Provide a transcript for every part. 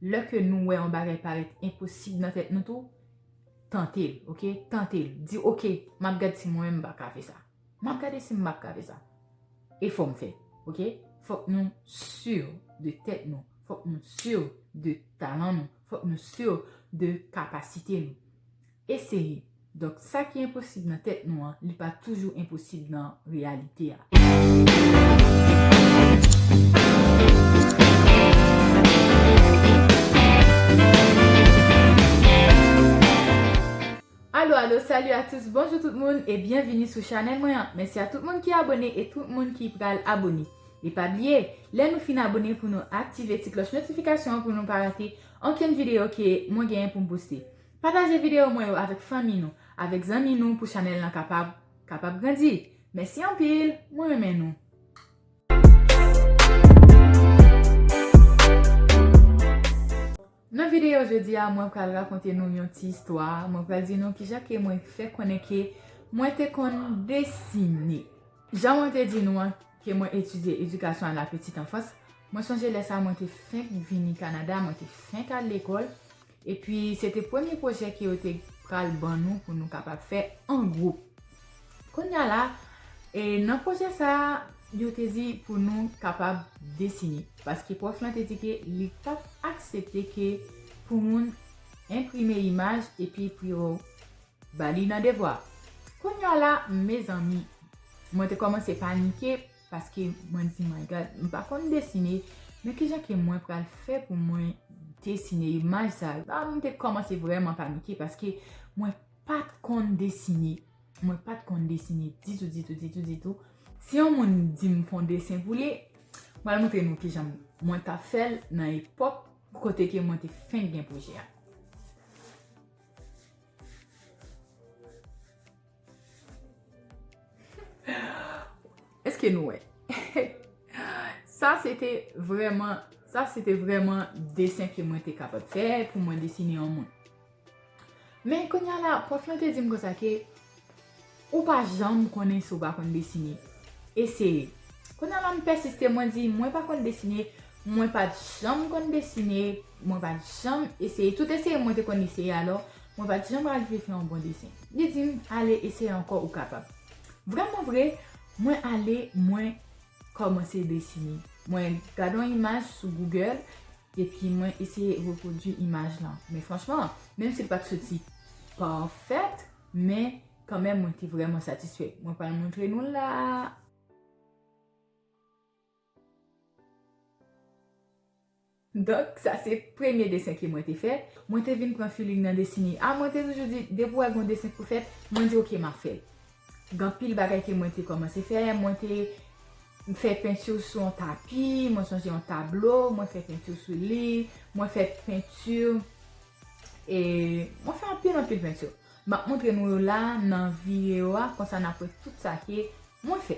Lè ke nou wè yon bagay parèt enposib nan tèt nou tou, tante l, ok, tante l. Di ok, m ap gad si mwen menm m pa ka fè sa. M ap gade si m pa ka fè sa. E fò m fè, ok. Fòk nou sur de tèt nou. Fòk nou sur de talan nou. Fòk nou sur de kapasite nou. Eseye. Donk sa ki enposib nan tèt nou an, li pa toujou enposib nan reyalite a. Alo alo salut à tous bonjou tout moun e byenvini sou chanèl mwen an mèsi a tout moun ki abone e tout moun ki pral abone e pa bliye lè nou fin abone pou nou aktive ti klòch notifikasyon pou nou pa rate ankenn videyo ke mwen genyen pou m poste Pataje video mwen yo avèk fanmi nou, avèk zanmi nou pou chanèl lan kapab kapab grandi. Mèsi anpil, mwen renmen nou. Nan video jodi a mwen pral rakonte nou yon ti istwa, mwen pral di nou kijan ke mwen fè konnen ke mwen te konn desine. Jan mwen te di nou an ke mwen etidye edikasyon a la petite enfance, mwen sonje lè sa mwen te fenk vini Kanada, mwen te fenk al lekòl, Epi se te premye pwojè ke yo te pral ban nou pou nou kapab fè an gwoup. Kounya la, nan pwojè sa a, yo te di pou nou kapab desine. Paske pwòf lan te di ke li pa t aksepte ke pou moun enprime imaj epi pou yo ba li nan devwa. Kounya la, mezanmi, mwen te kòmanse panike. Paske mwen di my God, m pa konn desine, men ki jan ke mwen pral fè pou mwen desine imaj sa yo? Sa m te kòmanse vrèman panike paske mwen pa t konn desine. Mwen pa t konn desine ditou, ditou, ditou, ditou. Si yon moun di m fè yon desen pou li, m pral montre nou ki jan mwen t ap fè l nan epòk kote ke mwen te fenk gen pwojè a. Eske nou wè? Sa se te vreman, sa se te vreman desen ke mwen te kapab fè pou mwen desine yon moun. Men kounye a la, pwòf lan te di m konsa ke, ou pa janm konnen si ou pa konn desine. Eseye. Kounye a la m pèsiste, mwen di, mwen pa konn desine, mwen pa janm konn desine, mwen pa janm eseye. Tout eseye mwen te konn eseye alò, Mwen pa t janm arive fè yon bon desen. Li di m, Ale eseye ankò ou kapab. Vrèmanvre, mwen ale mwen kòmanse desine. Mwen gade yon imaj sou Google epi mwen eseye repwodui imaj lan. Men franchman, menm si l pa t soti pafèt, men kanmenm mwen te vrèman satisfè. Mwen pral montre nou l la a. Donk sa se premye desen ke mwen te fè. Mwen te vin pran feeling nan desine a. Mwen te toujou di, depi ou wè gen yon desen pou fèt, mwen di ok map fèl. Gen anpil bagay ke mwen te kòmanse fè. Mwen te fè peinture sou yon tapi, mwen sonje yon tablo, mwen fè peinture sou li, mwen fè peinture e mwen fè anpil anpil peinture. Map montre nou yo la nan video a, konsa nap wè tout sa ke mwen fè.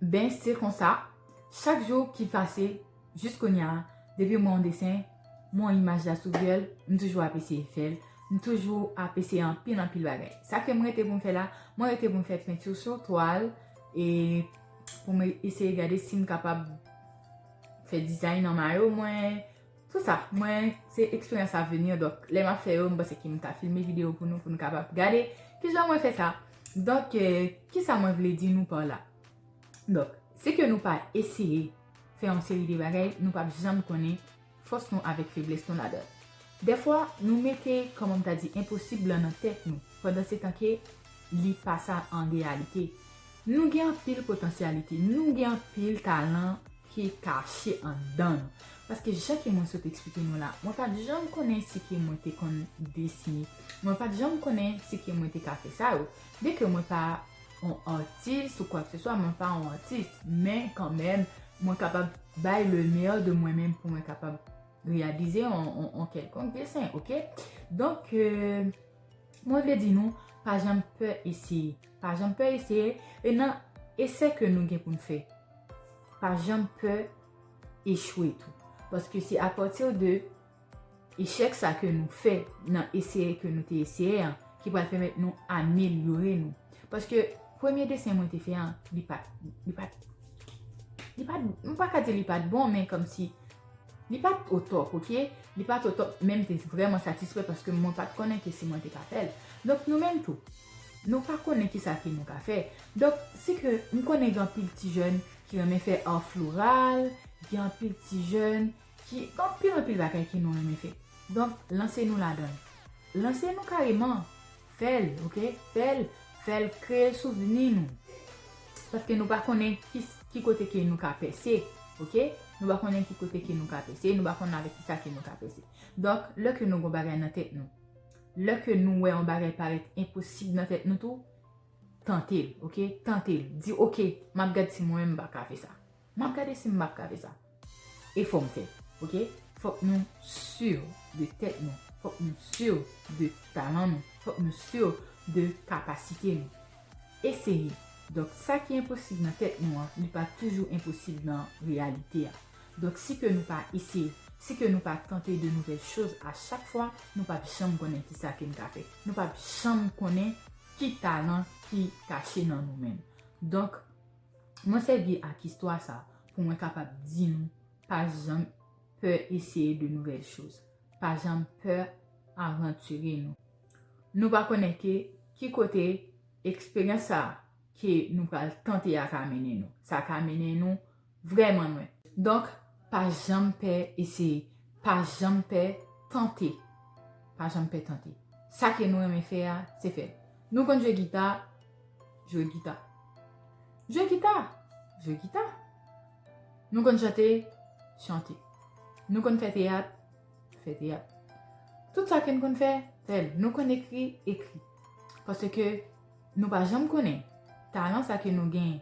Ben se konsa, chak jou ki pase jis kounya depi m wè yon desen, m wè yon imaj la sou Google, m toujou ap eseye fè l, m toujou ap eseye anpil anpil bagay. Sa ke m rete pou m fè la, mwen rete pou m fè peinture sur toile e pou m eseye gade si m kapab fè design nan mayo mwen. Se sa, mwen se experience à venir donk lè map fè yo m panse ke m ta filme video pou nou pou nou kapab gade kijan mwen fè sa donk kisa mwen vle di nou par la donk si ke nou pa eseye fè yon seri de bagay nou pap janm konnen fòs nou avèk feblès nou ladan l dèfwa nou mete kòman m ta di enposib lan nan tèt nou pandan se tan ke li pa sa an reyalite nou gen anpil potansyalite nou gen anpil talan ki kache andan nou. Paske jan ke mwen sot eksplike nou la, mwen pat janm konnen si ke mwen te konn desine. Mwen pat janm konnen si ke mwen te ka fè sa yo. Byen ke mwen pa yon atis ou kwak se swa, mwen pa yon atis, men kan menm, mwen kapab bay le meyè de mwen menm pou mwen kapab reyalize yon kèlkonk desen, ok? Donk, mwen vle di nou, pa janm pè eseye. Pa janm pè eseye, e nan esè ke nou gen pou nou fè, Pa janm pè echwe tou. Paske se a pati de echèk sa ke nou fè nan eseye ke nou te eseye an ki pral pèmèt nou amelyore nou. Paske premye desen mwen te fè an, li pa t, li pa t, li pa t, m pa ka di li pa t bon men kòm si li pa t otòp ok. Li pa t otòp men m te vrèman satisfè paske mwen pa t konnen ke si mwen te ka fè l. Donk nou menm tou, Nou pa konnen kisa ke nou ka fè. Donk, si ke m konnen gen anpil ti jèn ki renmen fè ar floral, gen anpil ti jèn ki gen anpil anpil bagay ke nou renmen fè. Donk, lanse nou ladan l. Lanse nou kareman. Fè l, ok. Fè l, fè l kreye souvni nou. Paske nou pa konnen ki kote ke nou ka pèse, ok. Nou pa konnen ki kote ke nou ka pèse, nou pa konnen avèk kisa ke nou ka pèse. Donk, lè ke nou gen yon bagay nan tèt nou. Lè ke nou wè yon bagay parèt enposib nan tèt nou tou, tante l, ok, tante l. Di ok, m ap gad si mwen menm m pa ka fè sa. M ap gade si m p ap ka fè sa. E fò m fè l, ok. Fòk nou si de tèt nou. Fòk nou si de talan nou. Fòk nou si de kapasite nou. Eseye. Donk, sa ki enposib nan tèt nou an, li pa toujou enposib nan reyalite a. Donk si ke nou pa eseye, si ke nou pa tante de nouvèl choz a chak fwa, nou pap janm konnen ki sa ke n ka fè. Nou pap janm konnen ki talan ki kache nan nou menm. Donk, mwen sèvi ak istwa sa pou mwen kapab di nou pa janm pè eseye de nouvèl choz. Pa janm pè avantire nou. Nou pa konnen ke ki kote eksperyans sa ke nou pral tante a ka mennen nou. Sa ka mennen nou Vrèman mwen. Donk, pa janm pè eseye. Pa janm pè tante. Pa janm pè tante. Sa ke nou renmen fè a, se fè l. Nou konn jwe gita, jwe gita. Jwe gita, jwe gita. Nou konn chante, chante. Nou konn fè teyat, fè teyat. Tout sa ke n konn fè, fè l. Nou konn ekri, ekri. Paske. Nou pa janm konnen talan sa ke nou gen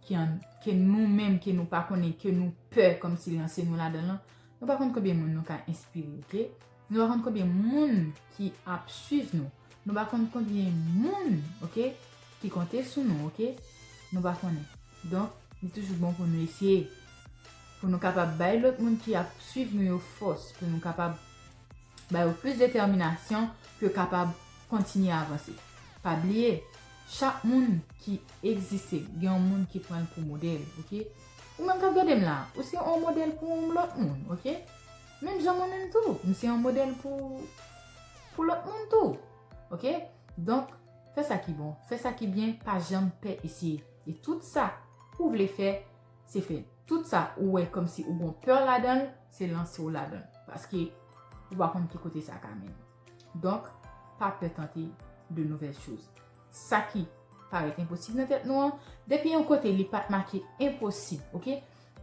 ki an ke nou menm ke nou pa konnen ke nou pè kom si lanse nou ladan lan nou pa konn konbyen moun nou ka enspire ok nou pa konn konbyen moun ki ap swiv nou nou pa konn konbyen moun ok ki konte sou nou ok nou pa konnen donk li toujou bon pou nou esye pou nou kapab bay lot moun ki ap swiv nou yo fos pou nou kapab Ba yo plis detèminasyon pou yo kapab kontinye avanse. Pa bliye, chak moun ki egziste gen yon moun ki pran l pou modèl. Ou menm k ap gade m la, ou se yon modèl pou yon lòt moun. Menm jan mwen menm tou, m se yon modèl pou lòt moun tou. Donk, fè sa ki bon, fè sa ki byen, pa janm pè eseye. E tout sa ou vle fè, se fè tout sa ou wè kòm si ou gon peur ladanl se lanse w ladanl paske ou pa konn ki kote sa ka mennen donk pa peur tante de nouvelles choses sa ki parèt enposib nan tèt nou an depi yon kote li pat make enposib ok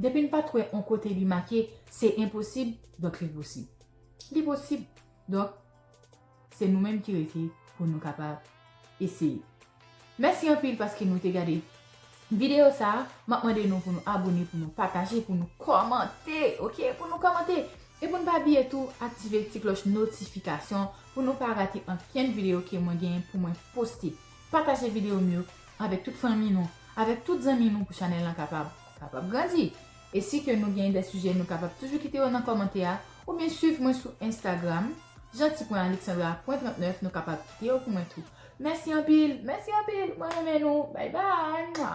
depi n pat wè yon kote li make se enposib donk li posib li posib donk Se nou menm ki rete pou nou kapab eseye. Mèsi anpil paske nou te gade videyo sa a. M ap mande nou pou nou abone, pou nou pataje, pou nou kòmante ok, pou nou kòmante. E pou nou pa bliye tou aktive ti klòch notifikasyon pou nou pa rate ankenn videyo ke mwen genyen pou mwen poste. Pataje videyo m yo avèk tout fanmi nou, avèk tout zanmi nou pou chanèl lan kapab kapab grandi. E si ke nou gen de sijè nou kapab toujou kite yo nan kòmantè a oubyen swiv mwen sou Instagram Jeanty.Alexandra.39 nou kapab kite yo pou mwen tou. Mèsi anpil, mèsi anpil, mwen renmen nou, bay bay, mwa.